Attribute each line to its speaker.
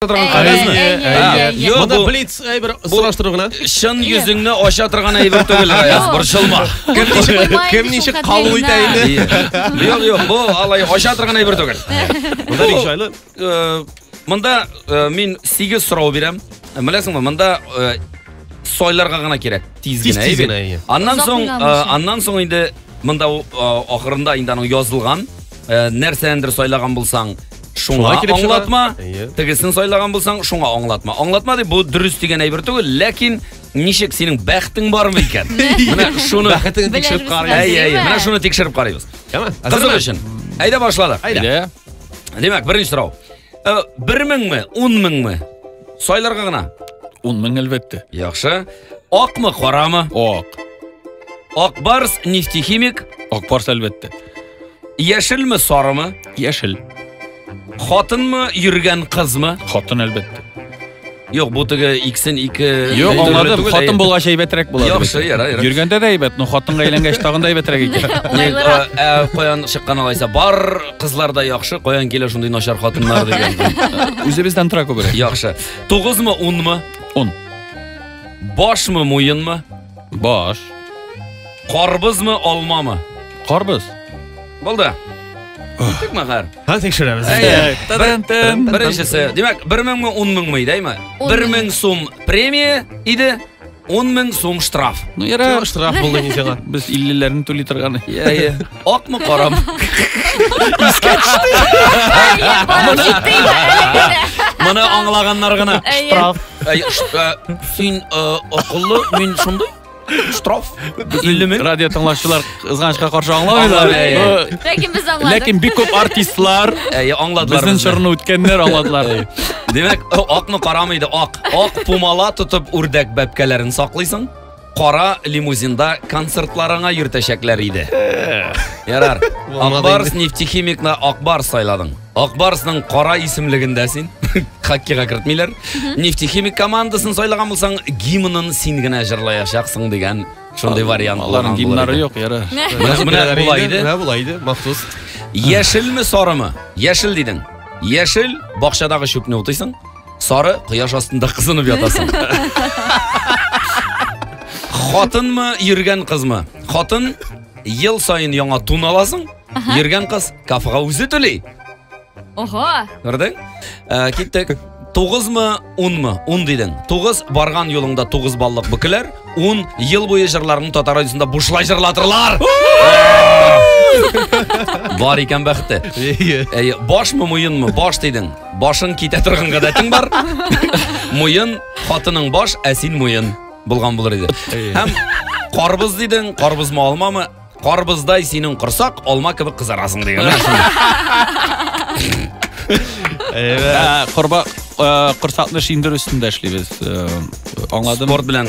Speaker 1: торган кәгазьме? Әйе, әйе, Ә, әйе, әйе. юк, Монда бу-
Speaker 2: блиц әйбер сораштыру гына. Чын йөзеңне
Speaker 1: ача торган әйбер түгел, Гаяз, Юк. борчылма. Кем ничек, Куймай кем
Speaker 2: ничек шул кабул итә кадеренә. инде? Юк, юк, бу
Speaker 1: алай ача торган әйбер түгел. Монда бик җайлы.
Speaker 2: Э, Монда
Speaker 1: э, мин 8 сорау бирәм. Э, Беләсеңме, монда э, сойларга гына кирәк. Тиз Тиз- генә, тиз әйбер. генә, әйе. Аннан Озак соң, уйламыйча. э, аннан соң инде монда э, ахырында инде аның язылган Э, нәрсәндер сайлаган булсаң, шуңа аңлатма, тегесен сайлаган булсаң, шуңа аңлатма. Аңлатма дип бу дөрес дигән әйбер түгел, ләкин ничек синең бәхтең бармы икән? Менә шуны бәхетеңне
Speaker 2: тикшереп карыйбыз. Әйе, әйе, менә шуны тикшереп карыйбыз.
Speaker 1: Кызык өчен. Әйдә башладык. Әйдә. Димәк, беренче сорау. Э, бер меңме, ун меңме? Сайларга гына. Ун мең әлбәттә.
Speaker 3: Яхшы.
Speaker 1: Акмы, карамы? Ак.
Speaker 3: Акбарс
Speaker 1: нефтехимик. Акбарс әлбәттә.
Speaker 3: Яшелме,
Speaker 1: сарымы? Яшел. Хатынмы, йөргән кызмы? Хатын әлбәттә.
Speaker 3: Юк, бу
Speaker 1: теге иксен ике. Юк, Әйбәт аңладым. түгел,
Speaker 3: Хатын әй- булгач әйбәтрәк була. Яхшы, яра, яра. Йөргәндә
Speaker 1: дә әйбәт, но
Speaker 3: хатынга әйләнгәч тагын да әйбәтрәк икән. Не, Лайклар. э, э, Каян
Speaker 1: чыккан алайса, бар кызлар да яхшы, каян килә шундый начар хатыннар дигән. Үзебездән тора
Speaker 3: күбрәк. Яхшы. Тугызмы,
Speaker 1: унмы? Он. Башмы, муенмы? Баш. Карбызмы, алмамы? Карбыз.
Speaker 3: Булды.
Speaker 1: Тик мәгәр. Һәм тикшерәбез. Әйе.
Speaker 2: Тын-тын.
Speaker 1: Беренчесе. Димәк, 1000 меңме, 10 меңме иде, әйме? Он 1000 мең. сум премия иде, 10 мең сум штраф. Ну, ярар, штраф
Speaker 3: булды инде сиңа.
Speaker 2: Без 50-ләрне түли
Speaker 3: торган. Әйе. Акмы
Speaker 1: карам? Искә төште. Моны аңлаганнар гына. Штраф. Син акыллы, мин шундый. Штраф. Иллемен. Радио
Speaker 3: тыңлаучылар кызганычка каршы аңламыйлар. Ләкин без аңладык. Ләкин бик күп артистлар аңладылар. Безнең чорны үткәннәр аңладылар. Димәк,
Speaker 1: акны карамыйды, ак. Ак пумала тотып үрдәк бәбкәләрен саклыйсың. кара лимузинда концертларыңа йөртәчәкләр иде. Ярар. Акбарс нефтехимикны Акбарс сайладың. Акбарсның кара исемлегендә син хоккейга кертмиләр. Нефтехимик командасын сайлаган булсаң, гимнын син генә җырлаячаксың дигән шундый вариант. Аларның гимнары юк,
Speaker 3: яра. Менә булай иде.
Speaker 1: Менә булай иде, махсус.
Speaker 2: Яшелме,
Speaker 1: сарымы? Яшел дидең. Яшел бакчадагы чүпне утыйсың. Сары кояш астында кызынып ятасың. Хатынмы, йөргән кызмы? Хатын ел саен яңа тун аласың, йөргән кыз кафега үзе түли. Ого!
Speaker 4: Күрдең? Ә,
Speaker 1: э, киттек. Тугызмы, унмы? Ун дидең. Тугыз барган юлыңда тугыз баллык бөкеләр, ун ел буе җырларның татар радиосында бушлай җырлатырлар. Бар икән бәхете. Әйе. Башмы, муенмы? Баш дидең. Башың китә торган гадәтең бар. Муен, хатының баш, ә син муен булган булыр иде. Һәм карбыз дидең, карбызмы алмамы? Карбыздай синең корсак, алма кебек кызарасың дигән. Ә, Корба
Speaker 3: э, корсакны шиндер өстендә эшлибез. Э,
Speaker 1: Аңладым.
Speaker 3: Спорт белән